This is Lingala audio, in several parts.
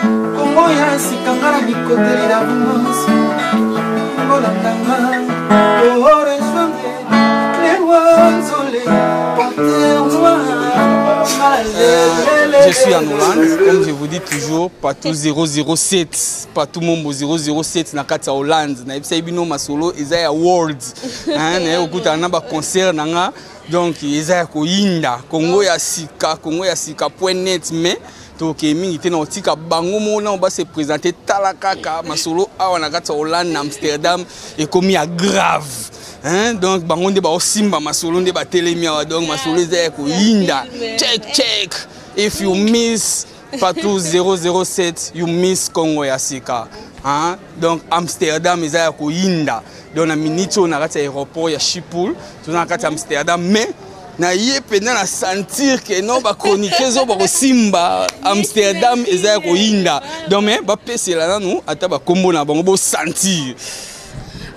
Kongo ya sika nga na bikoteli na bumansi kolanda nga oresonge lewa nzole Je suis en Hollande, comme je vous dis toujours, partout 007, partout Mombo 007 na kati ya Hollande. Na yebisa bino masolo eza ya world. Hein, na yokuta na ba concert na nga. Donc eza ya koyinda Congo ya sika, Congo ya sika point net mais tokei mingi te na kotika bango moko nao base présente tala kaka masolo awa na kati ya hollande na amsterdam ekomi ya grave hein? donc bango nde baosimba masolo nde batelemi awa donc masolo eza ya koyinda check check if you miss patou 007 you miss congo ya sika hein? donc amsterdam eza ya koyinda donc na minute oyo na kati ya aéroport ya shipul toza na kati ya amsterdam mais naye mpenza na sentir ke non bachroniquer zo bakosimba amsterdam eza ya koyinda donc me bapesela nanu ata bakombo na bango bosentir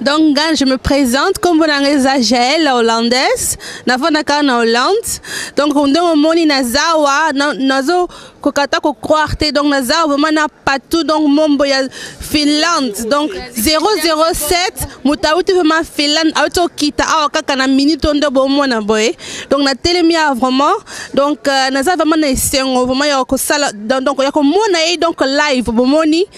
donc nga je me présente nkombo na nga eza jael hollandaise nafandaka na hollande donc ndenge omoni nazawa nazo kokata ko croire te donc naza vraiment na patou donc mombo ya finlande donc 007 moto auti vraiment finlande auti okita awa kaka na minute oyo nde bomona boye donc natelemi awa vraiment donc euh, naza vraiment na esengo vraiment ya kosala donc ya komona ye donc live bomoni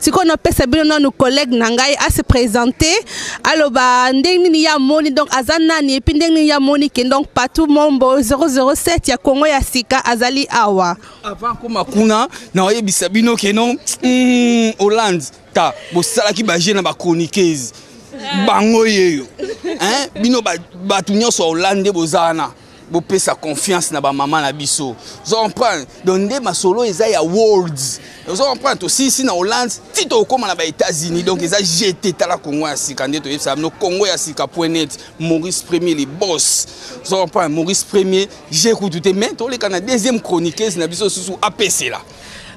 sikoyo napesa bino nanu collègue na ngai ase présente aloba ndenge nini ye amoni donc aza nani epuis ndenge nini ye amoni ke donc patou mombo 007 ya kongo ya sika azali awa avant koma kuna na oyebisa bino ke non mm, hollande ta bosalaki baje na bachroniqueuse bango yeyo bino bato nyonso ya hollande nde boza wana bopesa confiance na bamama na biso ozo comprendre donc nde masolo eza ya world ozo comprendre tosilisi na hollande ti tokokóma na baétats-unis donc eza jete tala congo ya sika nde toyebisa bino congo ya sika point net maurice premier le boss ozo comprendre maurice premier je kutu te mais toleka na deuxième chroniqueuse na biso susu apesela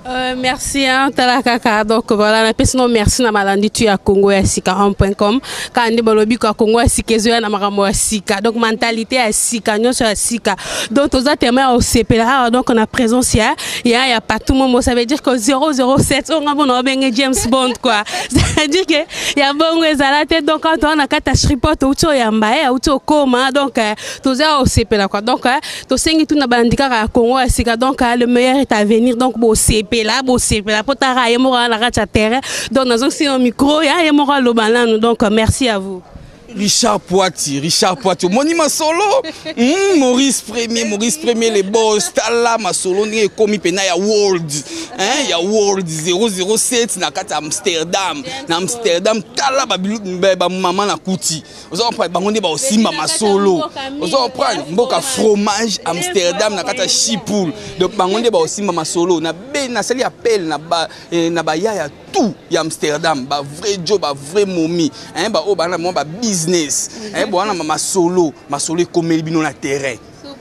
Euh, merci hein, tala kaka donc voilà napesi no merci na malandi tu ya congo ya sika com kaka nde balobi ka congo ya sika ezoya na makambo ya sika donc mentalité ya sika nyonso ya sika donc toza tema ya osepela awa ah, donc na présence ya ya ya patou momo ça veut dire que 007 oyo nga bona babenge james bond quoi c'est-à-dire que ya bongo ezala te donc awa toza na kati ya shripot outi oyamba ye eh, outi okoma donc euh, toza ya osepela quoi donc euh, tosengi tuna balandi kaka ya congo ya sika donc ah, le meilleur est à venir donc bosepela bosepela mpo tara ye moko na kati ya terrain donc nazongisi no micro ya ye moko aloba nanu donc merci à vous Richard Poiti, Richard Poiti, omoni masolo mm, Maurice Premier, Maurice Premier les boss, tala masolo ndenge ekomi pena ya World, hein, ya World 007 na kati ya Amsterdam, na Amsterdam tala ba ba maman na kuti. oza comprendre bango nde baosimba masolo oza comprendre mboka fromage amsterdam na kati ya chipoul donc bango nde baosimba masolo nasali appel na eh, baya ya tout ya amsterdam bavrai jo bavrai momi baoyo bana mwa babusiness bowana masolo masolo ekomeli bino na terrain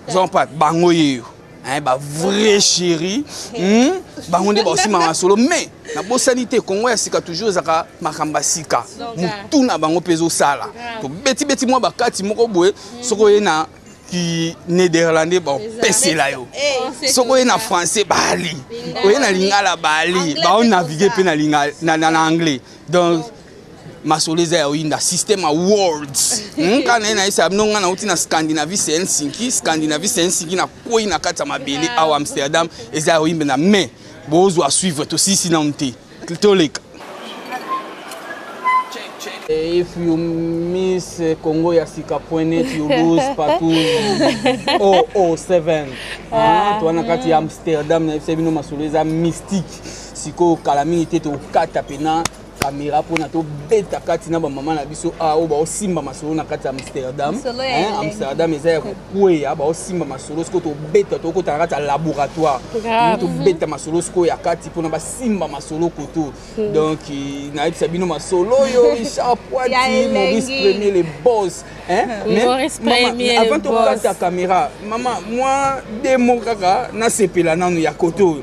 oza comprendre bango yeyo hein, ba vrai chéri hmm? bango nde baosima masolo mais nabosani te kongo ya sika toujours ezalaka makambo ya sika motu na bango mpe ezosala tobetibeti mwa bakati moko boye hmm. soki oye na ki nederlandais bapesela yo eh, soki oye na français bali oye na lingala bali baonavigue mpe na anglais donc masolo eza ya oyinda système ya worlds nka na ye na yesa bino ngai nauti na scandinavie se helsinki scandinavie se helsinki nakwei na kati ya mabele ah. awa amsterdam eza ya oyimbe na mai bozwa suivre tosisi nanu te toleka If you miss Congo ya sika point net you lose partout 007 ah. toa na kati ya amsterdam na yebisa bino masolo eza mystique sikoyo kala mingi te tokata mpena kamera mpona tobeta kati na bamama na biso awa ah, oyo baosimba masolo na kati ya amsterdam amsterdam eza ya kokweya baosimba masolo sikoyo tobeta tokota na kati ya laboratoire tobeta masolo sikoyo ya kati mpona basimba masolo koto hmm. donc eh, nayebisa bino masolo oyo richard poiti maurice premier le bos avant tokokata kamera mama mwa demo kaka nasepela nanu ya koto oyo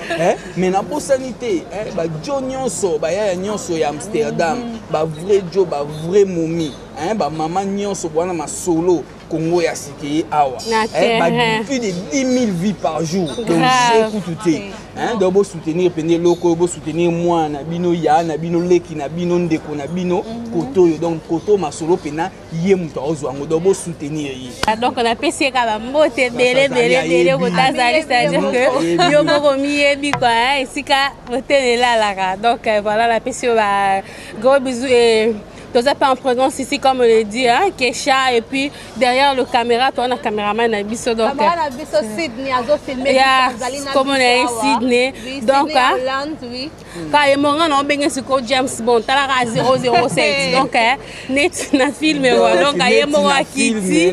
Eh, me nabosani te eh, bajo nyonso bayaya nyonso ya amsterdam mm. bavrai jo bavrai momi eh, bamama nyonso bwana masolo congo ya sikeye awa eh, ba plus de 10 000 vies par jour donc je kutu te eh, donc bosoutenir mpende eloko oyo bosoutenir mwana na bino ya na bino leki na bino ndeko na bino mm -hmm. koto oyo donc koto masolo mpena ye moto aozwa yango donc bosoutenir ye ah, donc napesi ye ka bambote ebele ebele ebele kota azali c'est-à-dire que yo moko miyebi kua esika motema elalaka donc euh, voilà napesi yo ba gros bisou et toza mpe en présence ici comme on le dit hein, kesha et puis derrière le caméra toa na caméraman na biso donc euh, ya komona ye sydney donc hein, ka ye moko nga na obenge siko james bond talaka 007 donc eh, neti na filme wa donc ye moko akiti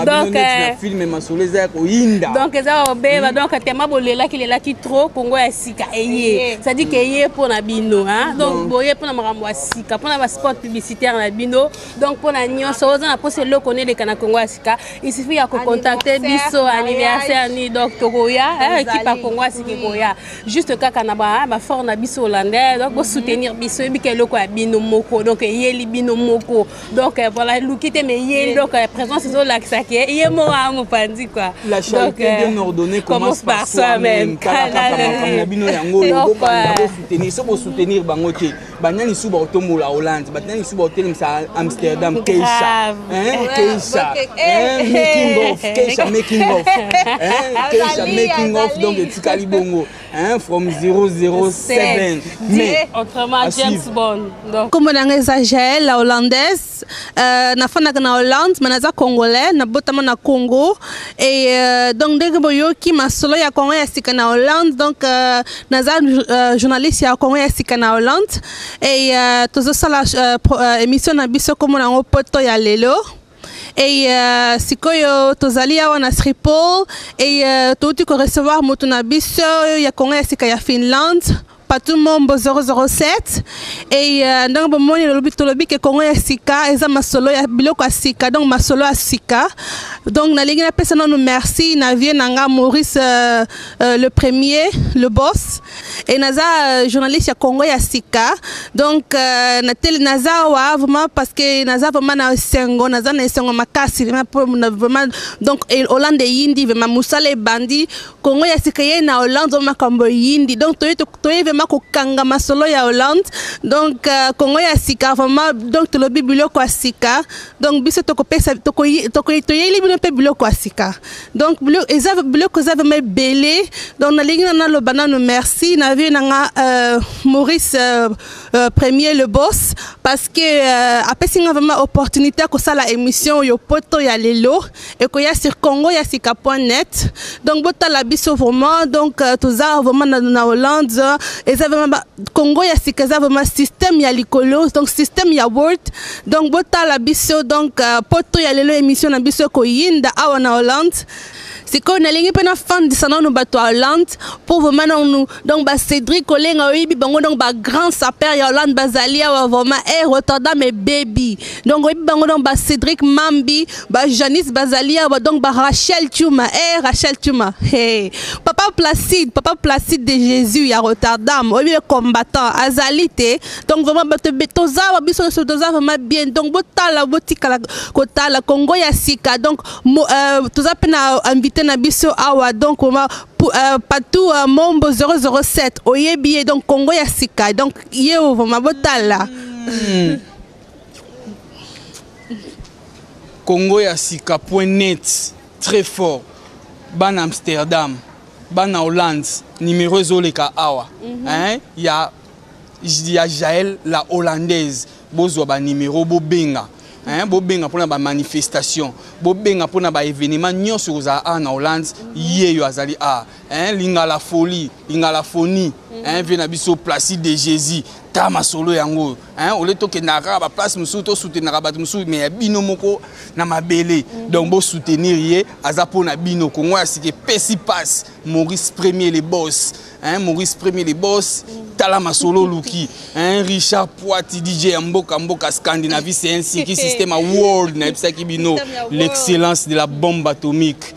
donc eh, filme masolo eza ya koyinda donc eza kobeba donc tema bolelaki lelaki trop kongo ya sika eye c'est à dire que eye mpo na bino donc boye mpo na makambo ya sika mpo na basport publicitaire na bino donc mpo na nyonso oza na mposa eloko neleka na kongo ya sika il suffit ya kocontacte biso anniversaire ni donc tokoya ekipa eh, kongo ya sika ekoya juste kaka na ba ah, fort na biso hollandais donc bosoutenir mhm. biso yebika eloko ya bino moko donc eyeli bino moko donc euh, voilà eluki te mais eyeli donc euh, présence ezolakisa ke ye moko yango panzi quoi la charité euh, bien ordonnée commence par soi-même donc soutenir so bosoutenir bango te bana lisusu bakotombola hollande bana lisusu bakotelemisa amsterdam keisha keisha making of keisha making of keisha making of donc etikali bongo from 007 mais autrement james bond kombo na ngai eza jael la hollandaise Euh, nafandaka na hollande me naza congolais nabotama na congo e euh, donc ndenge boyoki masolo ya congo ya sika na hollande donc euh, naza euh, journaliste ya congo ya sika na hollande e euh, tozosala euh, euh, émission na biso kombo na yango poto ya lelo et euh, sikoyo tozali awa na sripol et euh, touti korecevoir moto na biso ya congo ya sika ya finlande Patou Mombo 007 et euh, ndenge bomoni lolobi tolobi ke Congo ya sika eza masolo ya biloko ya sika donc masolo ya sika donc nalingi napesa nanu merci na vieux na nga Maurice euh, euh, le premier le boss et naza euh, journaliste ya Congo ya sika donc euh, na tele naza wa vraiment parce que naza vraiment na esengo naza na esengo makasi vraiment po- na- vraiment donc et Hollande yindi vraiment musala ebandi Congo ya sika eyei na Hollande wana makambo eyindi donc toye toye vraiment kokanga masolo ya Hollande donc euh, Congo ya sika vraiment donc tolobi biloko ya sika donc biso tokopesa toyeli bino mpe biloko ya sika donc eza biloko eza vraiment ebele donc nalingi na naloba nano merci na vie na nga euh, Maurice euh, euh, premier le boss parce que euh, apesi nga vraiment opportunité ya kosala émission oyo poto ya lelo ekoya sur congo ya sika point net donc botala biso vraiment donc euh, toza vraiment na, na hollande eza vraiment congo ya sika eza vraiment système ya likolo donc système ya world donc botala biso donc euh, poto ya lelo émission na biso ekoyinda awa na hollande sikoyo nalingi mpe nafandisa nanu bato ya hollande mpo vraimen nanu donc bacédric kolenga oyebi bango donc bagrand saper ya hollande bazali awa vraimen e eh, rotterdam ebebi donc oyebi bango donc bacédric mambi ba Janice bazali awa donc ba Rachel Tuma eh Rachel Tuma hey. papa Placide papa Placide de Jésus ya Rotterdam oyebi le combattant azali te donc vraiment bato toza awa biso nyonso toza vraiment bien donc botala botikala kotala Congo ya sika donc mo, euh, toza mpe na invité na biso awa donc vraiment euh, patou euh, mombo 007 oyebi ye donc Congo ya sika donc ye vraiment botala mm. Congo ya sika point net très fort bana Amsterdam bana Hollande numéro ezoleka awa mm -hmm. hein, ya, ya Jael la hollandaise bozwa ba numéro bobenga hein, bobenga mpona ba manifestation bobenga mpona ba événement nyonso ekozala awa na Hollande ye yo azali awa Hein, lingala folie lingala foni mm -hmm. hein, vie na biso placide de jésus ta masolo yango oyo hein, ole tokendaka kaka baplace mosusu tosoutenaka bato mosusu me ya bino moko na mabele mm -hmm. donc bosoutenir ye aza mpo na bino kongo ya sika epesi passe maurice premier le boss hein, maurice premier le boss mm -hmm. tala masolo oluki hein, richard poiti dj ya mboka mboka scandinavie c'est un siki système ya world nayebisaki bino l'excellence de la bombe atomique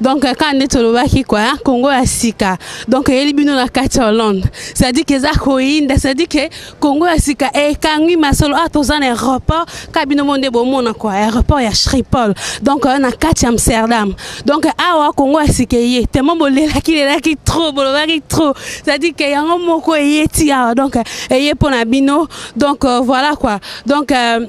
donc kaka nde tolobaki kua hein, congo ya sika donc eyeli bino na kati ya hollande cestadire ke eza koyinda cestadire ke congo ya sika ekangwi masolo awa toza na aéroport kaka bino mo nde bomona kua aéroport ya shripol donc euh, na kati ya amsterdam donc awa congo ya sika eye temo bolelaki lelaki trop bolobaki trop cestadire ke yango moko eye ti awa donc eye mpo na bino donc euh, voilà kua donc euh,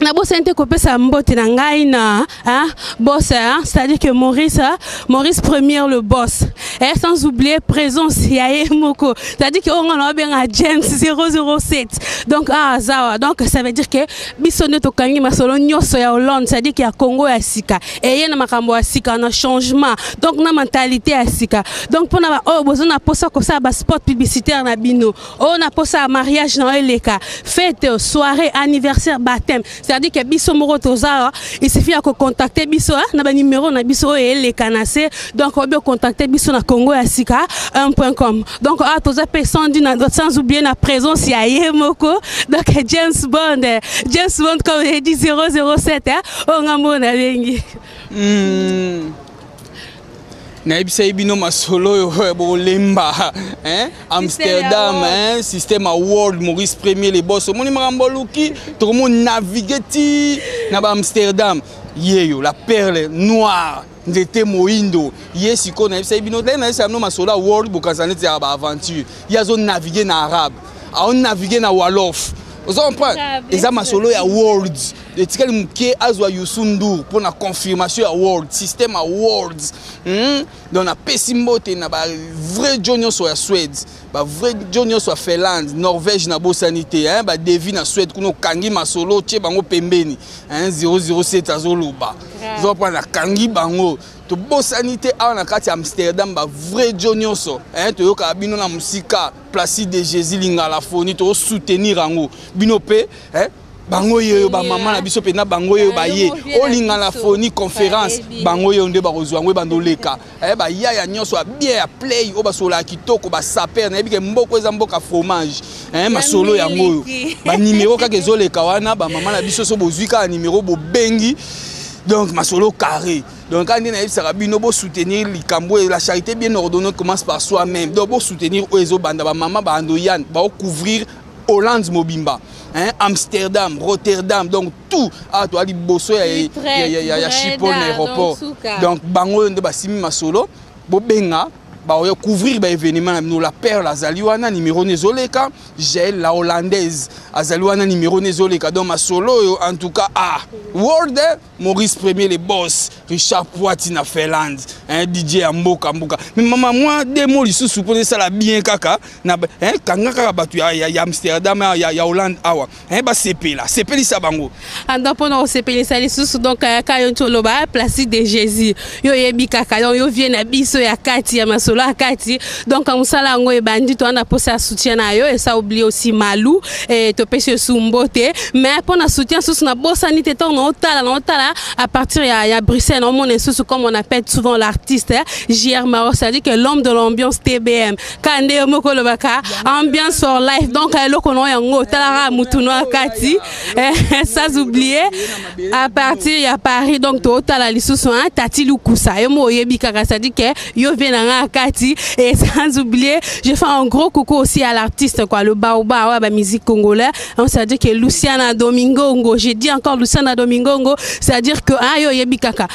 nabosani te kopesa mbote na ngai na hein, boss hein, c'est-à-dire que Maurice hein, Maurice première le boss et eh, sans oublier présence ya ye moko c'est-à-dire que onga na benga James 007 donc ah zawa donc ça veut dire que biso nde tokangi masolo nyonso ya Hollande c'est-à-dire que ya Congo ya sika et ye na makambo ya sika na changement donc na mentalité ya sika donc pona ba oyo oh, bozo na posa kosala ba spot publicitaire na bino Oh na posa mariage na eleka fête soirée anniversaire baptême c'est-à-dire que biso moko toza il suffit ya ko contacter biso hein, na ba numéro na biso oyo eleka na se donc obi contacter biso na Congo ya sika 1.com donc ah toza pe sans dire sans oublier na présence ya ye moko donc James Bond James Bond comme il dit 007 hein, oh ngambo na bengi mm. nayebisaki bino masolo oyo eh, bolemba eh, amsterdam eh, système ya world maurice premier le bos omoni makambo oluki tokomonavigue ti na baamsterdam yeyo la perle noire nzete moindo ye sikoyo nayebisaki bino ndenge nayebisaka bino masolo ya world bokanisa neti ya baaventure ye azonavigue na arabe aonavigue na walof ozo comprendre eza masolo ya world etikali moke azwa yusu ndour mpo na confirmation ya world système ya world hmm? donc napesi mbote na bavrai jo nyonso ya swede bavrai jo nyonso ya finlande norvège nabosani te hein? badevi na swede kuna okangi masolo tye bango pembeni hein? 007 azoloba zopa nakangi bango tobosani te awa na kati ya amsterdam bavrai jo nyonso hein? toyokaka bino na mosika placide de jésus lingalafoni tozosoutenir yango bino mpe hein? bango yeyo bamama na biso mpenza bango yeyo baye olinga na foni conférence bango yeyo nde bakozwa yango ebanda oleka eh, bayaya nyonso ya bien ya play oyo basololaka kitoko basaper nayebi ke mboko eza mboka fromage eh, masolo yango oyo banimero kaka ezoleka wana bamama na biso so bozwi kaka nimero bobengi donc masolo carré donc kaka nde nayebisaka bino bosoutenir likambo oyo la charité bien ordonnée commence par soi même donc bosoutenir oyo ezobanda bamama baandoyane baocouvrir Hollande mobimba hein? Amsterdam, Rotterdam, donc tout ah, toi li bosso ya ya ya ya ya Chipol na aéroport. Donc bango nde basimi masolo bobenga ba oya couvrir ba événement na bino la perle azali wana numéro ne zoleka Jael la hollandaise azali wana numéro ne zoleka donc masolo oyo en tout cas ah world eh? Maurice Premier le boss, Richard Poiti na Finlande, hein, DJ ya mboka mboka. Mais mama moi deux mots lisusu pour ça la bien kaka na hein kanga kaka batu ya, ya, ya Amsterdam ya, ya Hollande awa. Hein ba sepela, sepelisa bango. Anda pona o sepelisa lisusu donc kaka yo ntoloba place de Jésus. yo oyebi kaka donc yo vie na biso ya kati ya masolo ya kati donc mosala yango ebandi toza na posa ya soutien na yo esa oblie aussi malu e, topesi yo su mbote mais mpo na soutien susu nabosani te ntango naotala naotala à partir ya, ya bruxelles naomona esusu comme on appelle souvent l'artiste hein, jr maro c'est-à-dire que l'homme de l'ambiance tbm kaka nde yo moko olobaka ambiance for life donc eloko na yo yango otalaka motu na kati eh, sans oublier à partir ya paris donc totala lisusu hein, tati lukusa yo mo oyebi kaka cestadi ke yo vie na ngai kati et sans oublier je fais un gros coucou aussi à l'artiste quoi le baoba ouais, ba musique congolais on ça dit que luciana domingongo j'ai dit encore luciana domingongo c'est à dire que hein, yo oyebi kaka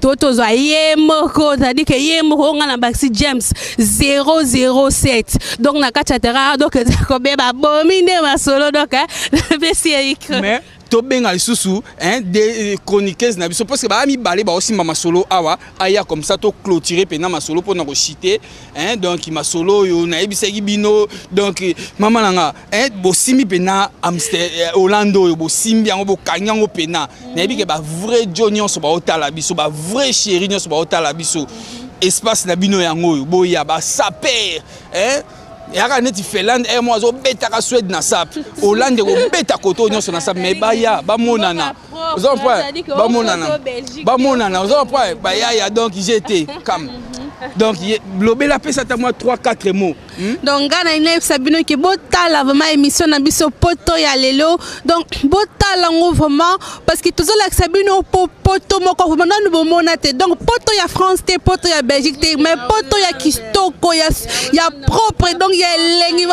to tozwa ye moko c'est-à-dire que ye moko nga na baxi james 007 donc na kati ya terrain donc eza kobeba bomi nde masolo donc napesi ye micro mais tobenga lisusu hein, des euh, chroniqueuses na biso parce que baya mibale baosimba masolo awa aya comme ça toclôture mpena masolo mpona kochite Hein, donc masolo oyo nayebisaki bino donc mama na nga hein, bosimbi mpena amster eh, hollande oyo bosimbi yango bokangi yango mpena nayebi ke bavrai jo nyonso baotala biso bavrai chéri nyonso baotala biso espace na bino yango oyo boya basaper hein? eyaka neti finlande emo azobetaka swede na sap hollande ekobeta koto nyonso na sap mai baya bamonana oza comprendre bamonana bamonana oza comprendre bayaya donc jete kam donc lobela apesa ata mwa 3 4 mots hmm? donc ngai nalingi nayebisa bino ke botala vraiment émission na biso poto ya lelo donc botala yango vraiment parce que tozolakisa bino po poto moko vraiment nanu bomona te donc poto ya france te poto ya belgique te mais poto ya kitoko ya, ya propre donc ya elengi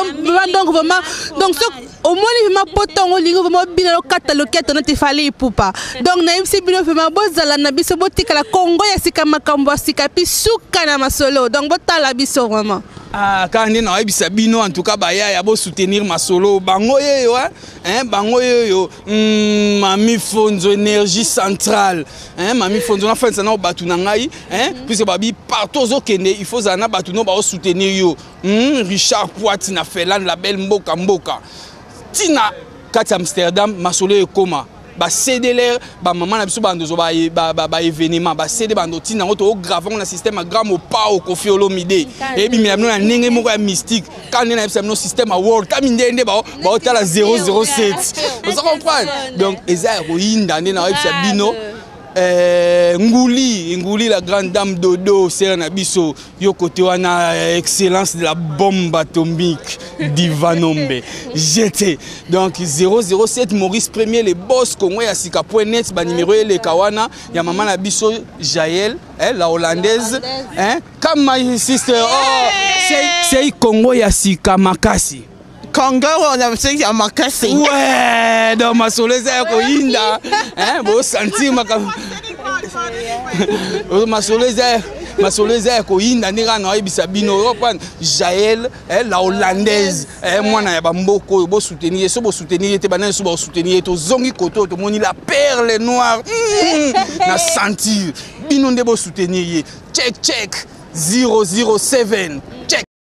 donc vraiment donc so omoni vraimen poto yango olingi vraimen obina lokata loketo neti fali ipupa donc nayebisi bino vraimen bozala na biso botikala kongo ya sika makambo ya sika pi suka na masolo donc botala biso vraimen Ah, kaka nde nayebisa bino en tout cas bayaya bosoutenir masolo bango yeyo hein, bango yeyo mm, mami fonzo énergie centrale hein, mami fonzo nafandisa nao bato na ngai hein, puisque babi partout ozokende il faut ozala na bato no baosoutenir yo Hum, Richard Poiti na Felan la belle mboka mboka. Tina kati Amsterdam masolo ekoma ba CDLR ba maman na biso ba ndozo ba ba, ba, ba événement ba CD ba ndoti na ngoto grave na système à gramme au pas au Koffi Olomide et bi mino na ndenge moko ya mystique quand na biso no système à world kami ndende ba ba otala 007 vous comprenez donc eza ko yinda ndena na bino Eh, Ngouli, Ngouli la grande dame Dodo, sœur Nabiso, yo côté wana eh, excellence de la bombe atomique d'Ivanombe. J'étais donc 007 Maurice Premier les boss Congo ya sika.net ba numéro et les kawana ya maman Nabiso Jaël, eh, la hollandaise, hein, comme my sister. Oh, c'est c'est Congo ya sika makasi. kanga wana mseki ya makasi we do masolo eza ya koyinda bosantir makambo masolo eza masolo eza ya koyinda nde kaka naoyebisa bino oyopan jael eh, la hollandaise eh, mwana ya bamboka oyo bosoutenir ye so bosoutenir ye te bana nyonso baosoutenir ye tozongi kote oyo tomoni la perle noire mm, na sentir bino nde bosoutenir ye check check 007 check